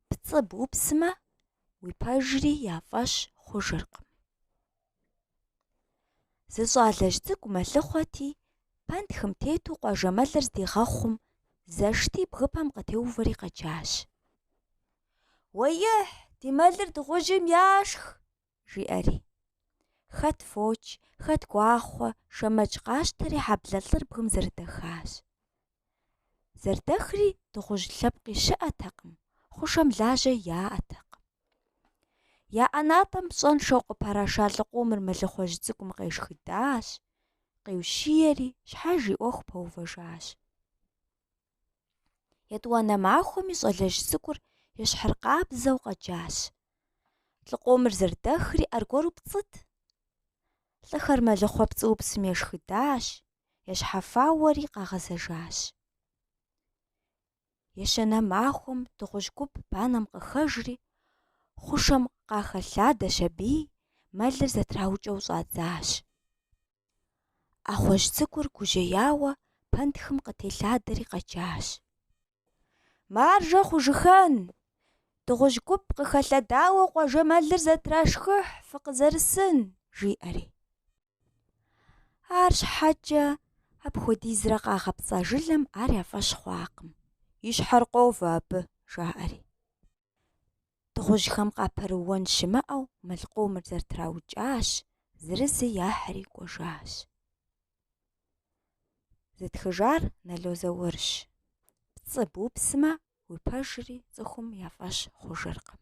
Пцӏы бупсмэ, уи пэжри я фӏэщ хъужыркъым. Зы щӏалэжь цӏыкӏу мэлыхъуэти, пэнтхым тету къуажэмэлыр здигъэхъум, зэшти бгыпэм къытеувэри къэджащ. Уэихь, ди мэлыр дыгъужьым яшх! жиӏэри. Хэт фоч, хэт гуахъуэ, шэмэдж къащтэри хьэблэ лӏыр бгым зэрыдэхащ. Зэрыдэхри дыгъужь лъэпкъи щыӏэтэкъым, хъушэм лажьэ яӏэтэкъым. Я ӏэнатӏэм пщӏэншэу къыпэраша лӏы къомыр мэлыхъуэжь цӏыкӏум къешхыдащ, къиущиери, щхьэж и ӏуэху пэувэжащ. Етӏуанэ махуэми щӏалэжь цӏыкӏур ещхьыркъабзэу къэджащ. Лӏы къомыр зэрыдэхри аргуэру пцӏыт. Лӏыхэр мэлыхъуэ пцӏыупсым ешхыдащ, ещхьэфауэри къагъэзэжащ. Ещанэ махуэм дыгъужь гуп банэм къыхэжри, хъушэм къахэлъадэщ аби, мэлыр зэтраукӏэу щӏадзащ. ӏэхъуэжь цӏыкӏур гужьеяуэ пэнтхым къытелъадэри къэджащ. Маржэ хъужыхэн! Дыгъужь гуп къыхэлъэдауэ къуажэ мэлыр зэтрашхыхь фыкъызэрысын! жиӏэри. Арщхьэкӏэ апхуэдизрэ къагъэпцӏа жылэм ар я фӏэщ хъуакъым, и щхьэр къовэ абы, жаӏэри. Дыгъужьхэм къапэрыуэн щымыӏэу мэл къомыр зэрытраукӏащ, зырызы яхьри кӏуэжащ. Зытхыжар Нало Заурщ. Пцӏы бупсмэ, уи пэжри цӏыхум я фӏэщ хъужыркъым.